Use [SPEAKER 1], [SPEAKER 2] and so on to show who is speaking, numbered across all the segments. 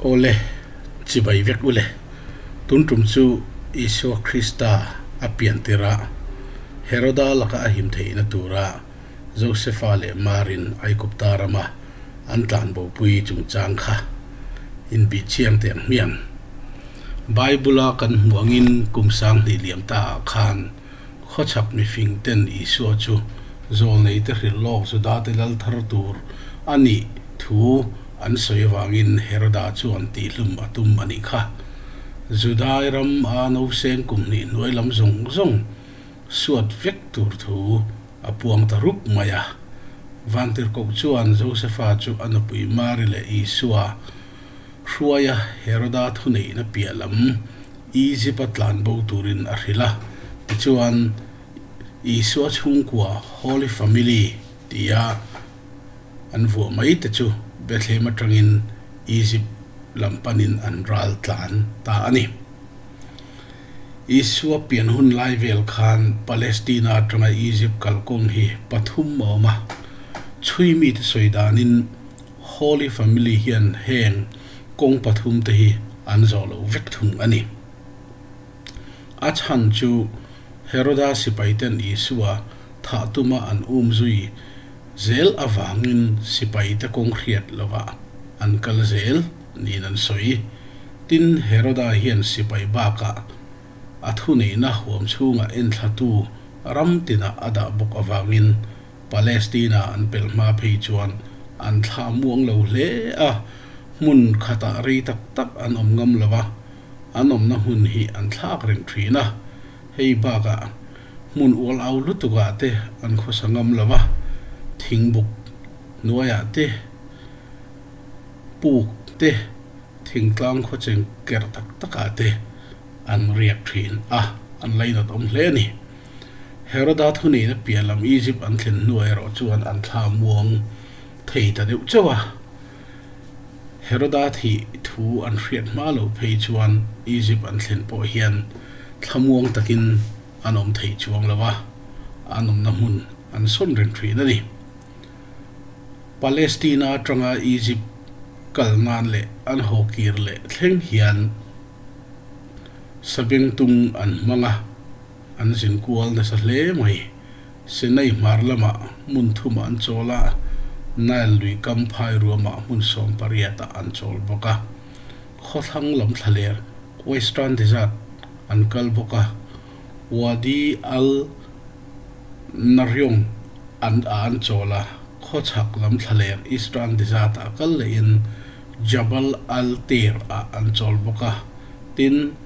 [SPEAKER 1] Awle, chibai vek ule. Tun tum chu Isua Krista a pian tirah Heroda laka a him theihna turah Josepha leh Marin Aigupta rama an tlanbopui chungchang kha inbihchiang teh ang hmiang. Bible-a kan hmuh angin kum sang hnih liam ta ah khan, Khawchhak mifing ten Isua chu zawl nei te hrilh lawk Juda te lal thar tur a nih thu an sawi avangin Heroda chuan tihhlum a tum a nih kha. Judai ram a Noseng kum hnih hnuai lam zawng zawng suat vek tur thu a puang ta rup mai a. Vantirhkoh chuan Josepha chu a nupui Mary leh Isua Hruaia Heroda thuneihna piah lam Izipa tlanbo turin a hrilh a. Tichuan, Isua chhungkua, Holy Family tia an vuah mai te chu Bethlehem atangin Izip lam panin an ral tlan ta a ni. Isua pian hun lai vel khan Palestina atanga Izip kalkawng hi pathum a awm a. Chhui mite sawi danin, Holy Family hian heng kawng pathum te hi an zawh loh vek thung a ni. A chhan chu Heroda sipaiten Isua thah tuma an um zui zel avangin sipaite kawng hriat lovah an kal zel niin an sawi. Tin, Heroda hian sipai bakah a thuneihna huam chhunga enthlatu ram tinah a dah bawk avangin, Palestina an pelh hma phei chuan an thla muang lo hle a, hmun khatah rei tak tak an awm ngam lo a, an awmna hmun hi an thlak reng thin a, hei bakah hmun ual au lutukah te an khawsa ngam lo a, thingbuk hnuaiah te, puk te, thingtlang khawcheng ker tak takah te an riak thin a, an lainat awm hle a ni. Heroda thuneihna pian lam Egypt an thlen hnuai erawh chuan an thla muang thei ta deuh chauh a. Heroda thi thu an hriat hma lo phei chuan Egypt an thlen pawh hian thla muang takin an awm thei chuang lo a, an awmna hmun an sawn reng thin a ni. Palestina atanga Egypt kal nan leh an haw kir leh thleng hian sabeng tum an hmang a. an zin kual nasa hle mai. Sinai hmar lamah hmun thumah an chawl a, Nile lui kam phai ruamah hmun sawm pariatah an chawl bawk a. Khawthlang lam thlaler, Western Desert, an kal bawk a, Wadi al-Naryong an ah an chawl a, khawchhak lam thlaler, Eastern Desert, ah kal lehin Jabal al-Tayr ah an chawl bawk a, tin,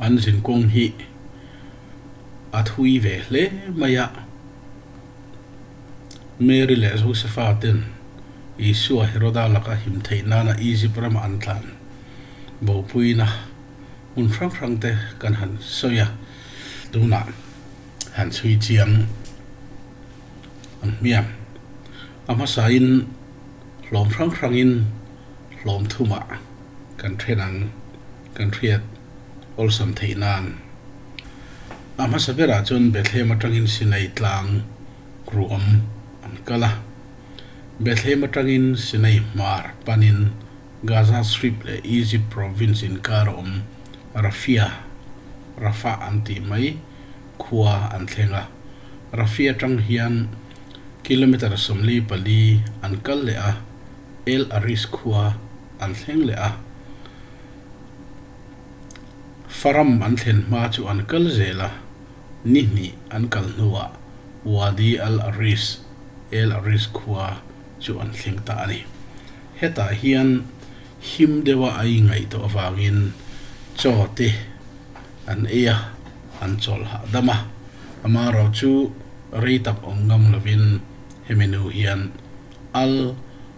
[SPEAKER 1] an zin kawng hi a thui ve hle mai a. Mary leh Josepha ten Isua Heroda laka him theih nana Egypt rama an tlan. Bopuina hmun hrang hrang te kan han sawi a, tunah han chhui chiang ang hmiang. A hmasain hlawm hrang hrangin hlawm thumah. kan then ang, kan hriat awlsam theih nan. A hmasa berah chuan Bethlehem atangin Sinai tlang ruam an kal a. Bethlehem atangin Sinai hmar panin Gaza Strip leh Egypt Province inkar a awm Rafia, Rafah an tih mai, khua an thleng a. Rafia atang hian kilometre sawmli pali an kal leh a, El Aris khua, an thleng leh a, Faram an thlen hma chu an kal zel a, ni hnih an kal hnuah Wadi al-Aris, al-Aris khua, chu an thleng ta a ni. Hetah hian him deuha ai ngaihtuah avangin chaw te an ei a, an chawl hahdam a, amarawh chu rei tak awm ngam lovin hemi nu hian al.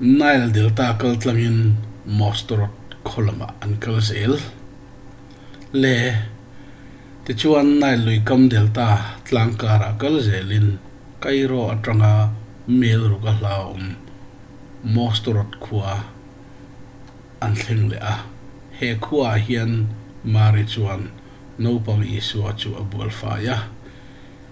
[SPEAKER 1] Nile delta kaltlangin Mosterot khaw lamah an kal zel. Le tichuan Nile luikam delta tlangkarah kal zelin Cairo atanga Mel ruk a hla awm Mosterot khua an thleng leh a. He khuaah hian Mary chuan naupang Isua chu a bualfai a.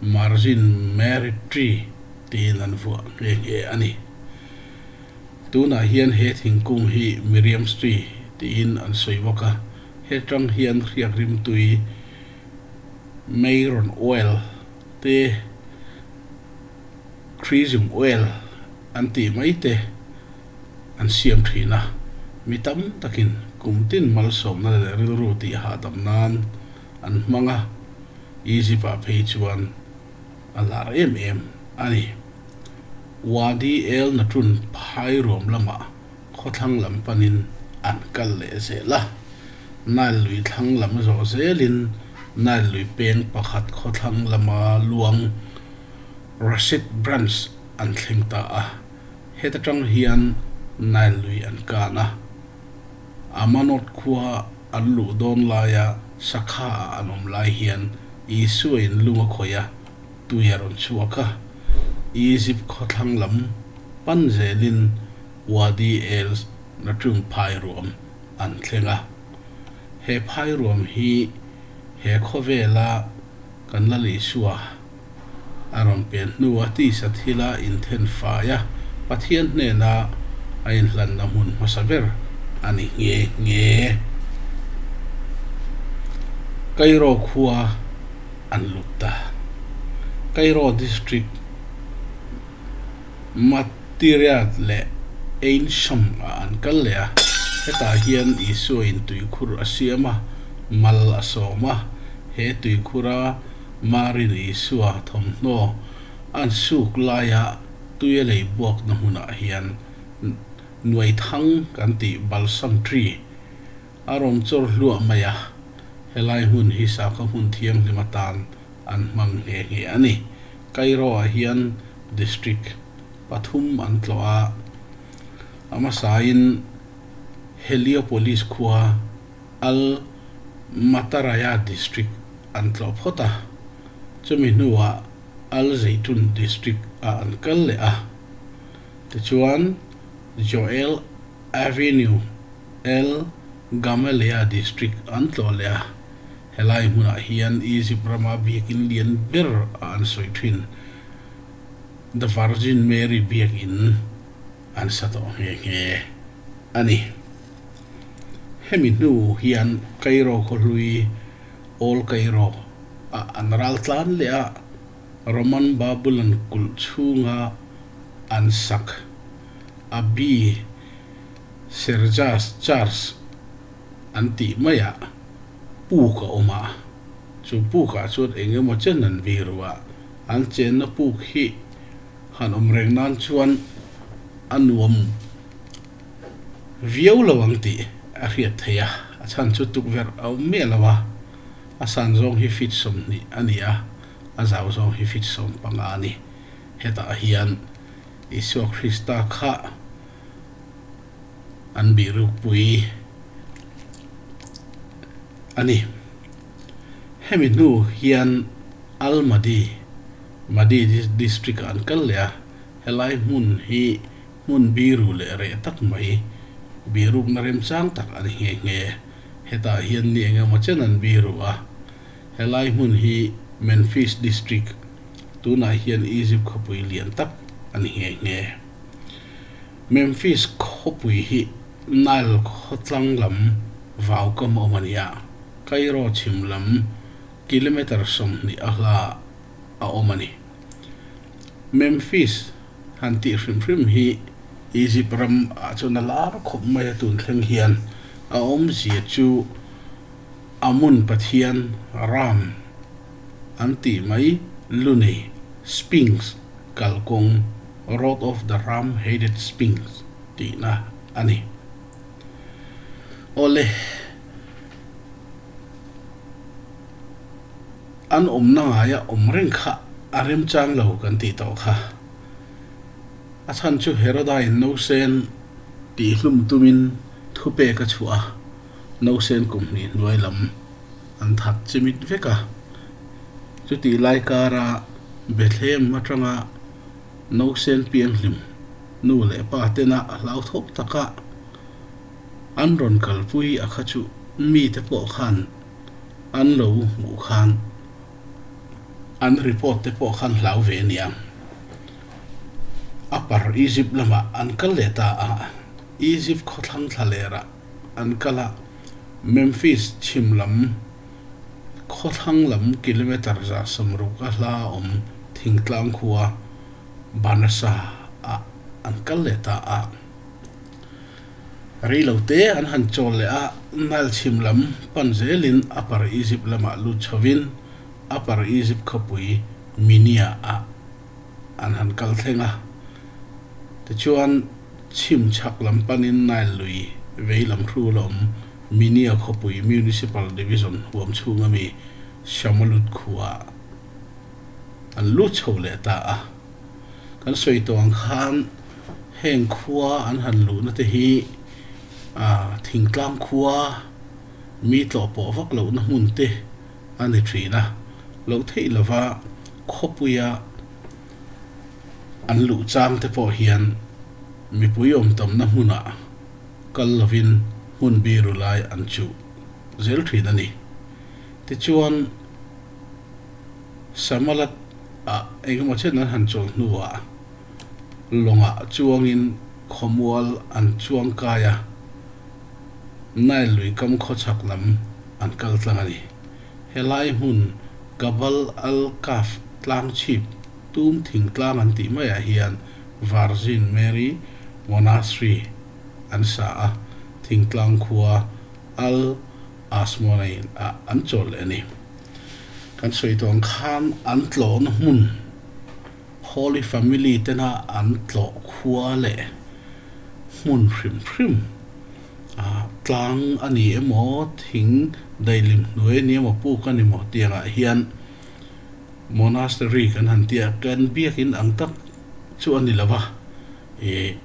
[SPEAKER 1] Margin Mary Tree tiin an vuah nghe nghe a ni. Tunah hian he thingkung hi Miriam's Tree tiin an sawi bawk a, hetang hian hriak rimtui Meiron Oil te, Chrism Oil an tih mai te an siam thin a, mi tam takin kum tin malsawmna leh rilru tih hahdam nan, An hmang a, Egypt-a phei chuan a hlar em em a ni. Wadi el-Natun phairuam lama khawthlang lam panin an kal leh zel a, Nile lui thlang lam zawh zelin Nile lui peng pakhat khawthlang lama luang Rashid Branch an thleng ta a, heta tang hian Nile lui an kan a. Amanot khua. An luh dawn laia sakhaah an awm lai hian Isua-in lung a khawih a, tui a rawn chhuak a. Egypt khawthlang lam pan zelin Wadi el Natum phairuam an thleng a. He phairuam hi he khawvela kan Lal Isua a rawn pen hnu a tisa thil a inthen fai a, Pathian hnena a inhlanna hmun hmasa ber a ni nghe nghe. Kairo khua an lut ta. Kairo District Matiriyat leh Ain Shams ah an kal leh a, hetah hian Isua-in tuikhur a siam a, mal a sawm a, he tuikhura Marin Isua thawmhnaw a suk laia tui a lei buakna hmunah hian nuai thang kan tih Balsam Tree a rawn chawr hluah mai a, helai hmun hi Sakhaw hmun thianghlim atan an hmang nghe nghe a ni. Cairo-ah hian District pathum an tlawh a, a hmasain Heliopolis khua Al-Mataraya District an tlawh phawt a, chumi hnuah Al-Zaytun District ah an kal leh a. Tichuan, Joel Avenue, El-Gamaleya District an tlawh leh a, helai hmunah hian Egypt rama biakin lian ber a an sawi thin, The Virgin Mary Biakin. An sa tawh nghe nghe a ni. Hemi hnu hian Kairo khawhlui, Old Cairo, a an ral tlan leh a, Roman Babylon kulh chhunga an sak. Abbey, Sergius Church, an tih mai ah puk a awm a, chu puk ah chuan eng emaw che nanvi ruah an chenna puk hi, Han awm reng nan chuan a nuam viau lo ang tih a hriat theih a, a chhan chu tukverh a awm miah lo a, a san zawng hi feet sawmhnih a ni a, a zau zawng hi feet sawm panga a ni. Hetah hian Isua Krista kha an bihrukpui a ni. Hemi hnu hian Almaty, Madi District ah an kal leh a, helai hmun hi hmun biru leh reh tak mai, bihrukna remchang tak a ni nghe nghe. Hetah hian ni eng emaw chen an biru a. Helai hmun hi Memphis District, tunah hian Egypt khawpui lian tak a ni nghe nghe. Memphis khawpui hi Nile khaw tlang lam vau kam awm a ni a. Cairo chhim lam kilometre sawmhnih a hla a awm a ni. Memphis han tih hrim hrim hi Egypt ram ah chuan a lar khawp mai a tun thleng hian a awm zia chu Amun pathian Ram an tih mai lu nei Sphinx kal kawng Road of the Ram Headed Sphinx tihna a ni. Awle An awmna ngaia awm reng kha a remchang lo kan tih tawh kha. A chhan chu Heroda-in Nosen tih hlum tumin thupek a chhuah a, Nosen kum hnih hnuai lam an that chimit vek a. Chutih lai kara Bethlehem atanga Nosen pianghlim nu leh pa tena hlauthawk taka, An rawn kalpui a kha chu mite pawh khan an lo hmuh khan an report te pawh khan hlau ve a nia. A par Egypt lamah an kal leh ta a, Egypt khawthlang thla lerah an kal a, Memphis chhim lam khawthlang lam kilometre zah sawm ruk a hla awm thingtlang khua Banasa ah an kal leh ta a. Reilote an han chawl leh a, Nile chhim lam pan zelin Upper Egypt lamah lut chhovin Upper Egypt khawpui Minia ah an han kal thleng a. Tichuan, chhim chhak lam panin Nile lui vei lam hru la awm Minia khawpui Municipal Division huam chhung ami Shamalut khua an lut chho leh ta a. kan sawi tuang khan heng khua an han luhna te hi ah thingtlang khua mi tlawh pawh vak lohna hmun te a ni thin a, loh theih lova khawpuia an luh chang te pawh hian mipui awmtamna hmunah kal lovin hmun biru lai an chuh zel thin a ni. Tichuan. Samalat a engemaw chin an han chawl hnuah lawngah chuangin khawmual an chuang kai a, Nile lui kam khawchhak lam an kal tlang a ni. Helai hmun Gabal al-Kaf tlang chhip, Tum thing tlang an tih maiah hian Virgin Mary Monastery an sa a, thingtlang khua al. Asmore in a an chawl leh a ni. Kan sawi tawn khan an tlawhna hmun, Holy Family tena an tlawh khua leh hmun hrim hrim, ah, tlang a ni emaw, thing daihlim hnuai a ni emaw, puk a ni maw tiangah hian Monastery kan han tia, kan biakin ang tak chu a ni lova, eh,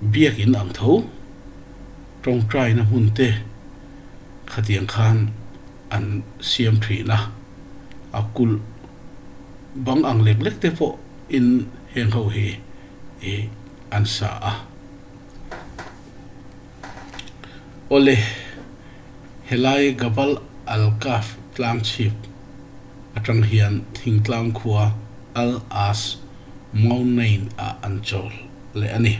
[SPEAKER 1] biakin ang tho. Tawngtaina hmunte khatiang khan an siam thin a, a kulh bang ang lek lek te pawh in heng ho hi i an sa a. Awle, helai Gabal al-Kahf tlang chhip atang hian thingtlang khua Al-Aas Mountain-ah an chawl leh a ni.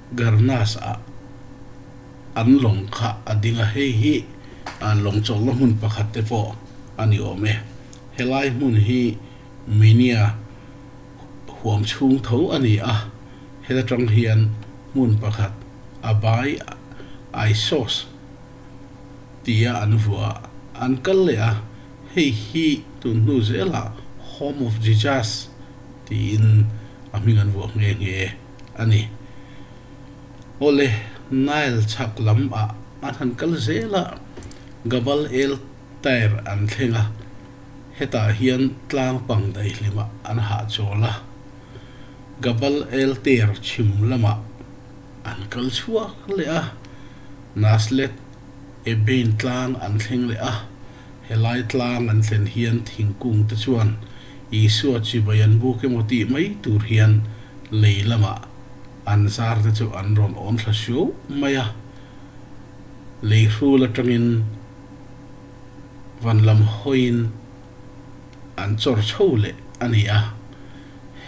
[SPEAKER 1] Garnas a an lawng kha a ding a, hei hi lawng chawlhna hmun pakhat te pawh a ni awm e. Helai hmun hi Minya huam chhung tho a ni a, heta tang hian hmun pakhat a bai Issos tia an vua an kal leh a, hei hi tun hnu zela Home of Jijas tiin a hming an vuah nghe nghe. a ni. Awle, Nile chhak lam ah a hnan kal zel ah Gabal El Tair an thleng a, hetah hian tlangpang daihlim ah an hah chawl a. Gabal El Tair chhim lam ah an kal chhuak leh a, Naslet Ebein tlang an thleng leh a. He lai tlang an thlen hian thingkungte chuan Isua chibai an buk emaw tih mai tur hian lei lamah an zarte chu an rawn awn thla hriau mai a. Lei hrul atangin van lam hawiin an chawr chho leh a ni a.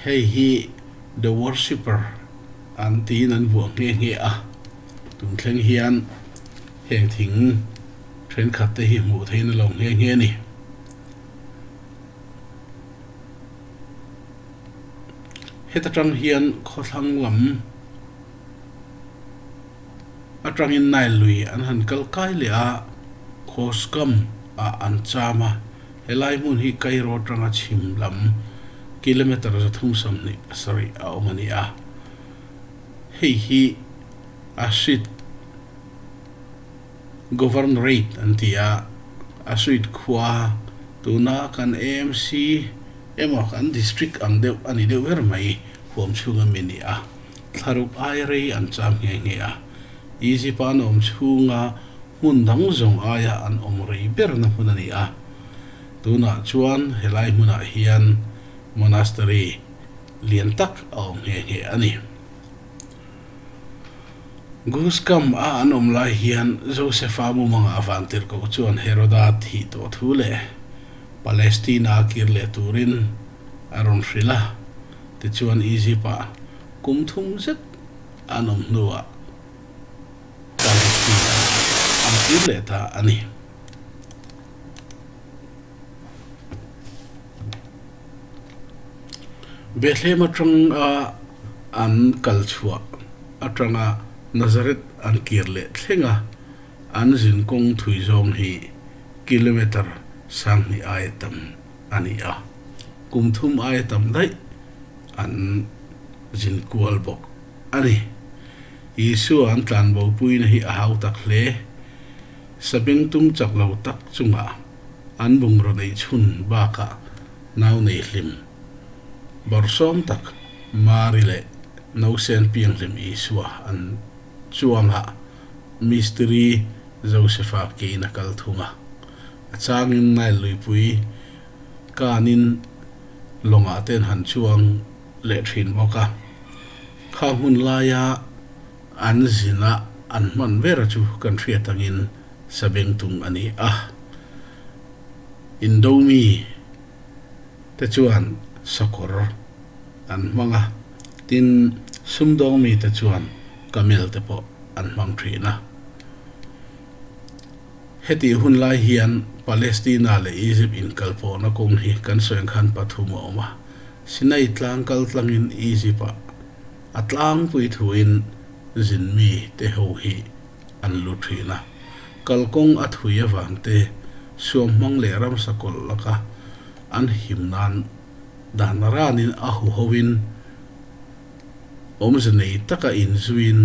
[SPEAKER 1] Hei hi The Worshipper an tiin an vuah nghe nghe a. Tum thleng hian. Heng thing thenkhat te hi hmuh theih na lo nghe nghe a ni. Heta tang hian khawthlang lam atangin nile lui an han kal kai leh a, Khawskam ah an cham a, helai hmun hi Kairo tanga chhim lam kilometre za thum sam hnih pasarih a awm a ni a, hei hi a hrit. Governorate an ti a, a suite khua tuna kan AMC emaw kan district ang deuh a ni deuh ber mai huam chhung a mi ni a, thlaruk ai rei an cham nghe nghe a. Egypt a an awm chhunga hmun dang zawng aia an awm rei berna hmun a ni a, tunah chuan helai hmunah hian monastery lian tak a awm nghe nghe a ni. Goose kam a an awm lai hian Josepha mumang a van tir koh chuan Heroda thih tawh thu leh Palestina a kir leh turin a rawn hrilh a. Tichuan Egypt ah kum thum zet an awm hnuah Palestina an kir leh ta a ni. Bethlehem atang a an kal chhuah atanga Nazareth an kir leh thleng a, an zin kawng thui zawng hi kilometre sanghnih aia tam a ni a, kum thum aia tam daih an zin kual bawk a ni. Isua an tlanbo puina hi a hau tak hle, sabeng tum chak lo tak chungah, An bungraw neih chhun bakah nau nei hlim, bawrsawm tak Mari leh Nosen Pianghlim Isua an chuangah Mistiri Josepha kein a kal thung a. A changin Nile luipui kanin lawngah te an han chuang leh thin bawk a. Kha hmun laia An zina an hman bera chu kan hriat angin Sabeng tung a ni a. Indomi te chuan sakawr an hmang a, tin, Sumdawng mi te chuan Camel te pawh an hmang thin a. Hetih hun lai hian Palestina leh Egypt inkalpawhna kawng hi kan sawinkhan pathum a awm a, Sinai tlang kaltlangin Egypt-ah, A tlangpui thuin zinmi te ho hi an lu thin a, kalkawng a thui avangte suam hmang leh ramsa kawlh laka an him nan dan ranin a hu hoin awmze nei taka inzuiin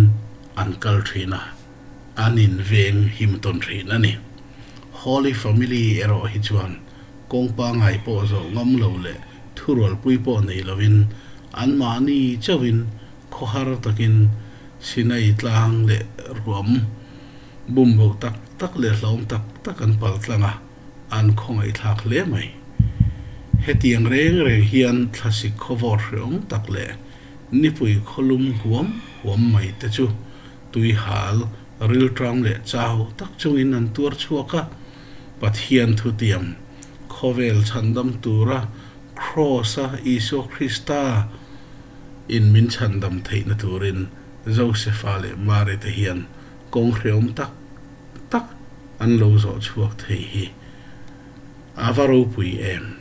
[SPEAKER 1] an kal thin a. an inveng him tawn thin a ni. Holy Family erawh hi chuan kawng pangngai pawh zawh ngam lo leh thurualpui pawh nei lovin anmahni chauhin khawhar takin Sinai tlang leh ruam bumboh tak tak leh hlawm tak tak an pal tlang a, an khawngaihthlak hle mai. Hetiang reng reng hian thlasik khawvawt hreawm tak leh nipui khawlum huam huam mai te chu Tuihal, rilṭam leh chau tak chungin an tuar chhuak a, Pathian thutiam, khawvel chhandam tura Kraws a, Isua Krista in min chhandam theihna turin Josepha leh Mary te hian kawng hreawm tak tak an lo zawh chhuak thei hi a va ropui em?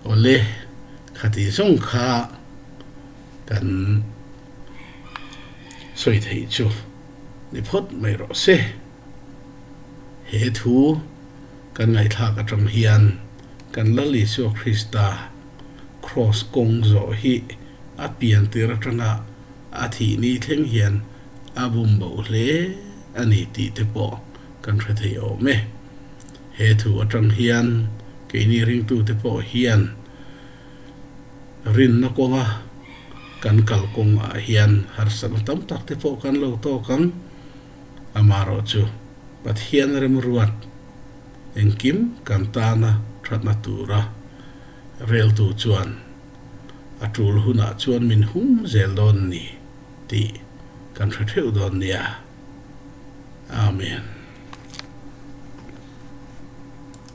[SPEAKER 1] Awle, khati zawng kha. Kan sawi theih chu ni phawt mai rawh se. He thu kan ngaihthlak atang hian kan Lal Isua Krista Kraws kawng zawh hi a pian tir atanga a thih ni thleng hian a bum boh hle a ni tih te pawh kan hre thei awm e. He thu atang hian keini ringtute pawh hian Rinna kawnga kan kal kawng ah hian harsatna tam tak te pawh kan lo tawk ang, amaherawh chu Pathian remruat engkim kan tana thatna tura reltu chuan a tul hunah chuan min hum zel dawn ni tih kan hre theuh dawn nia. Amen.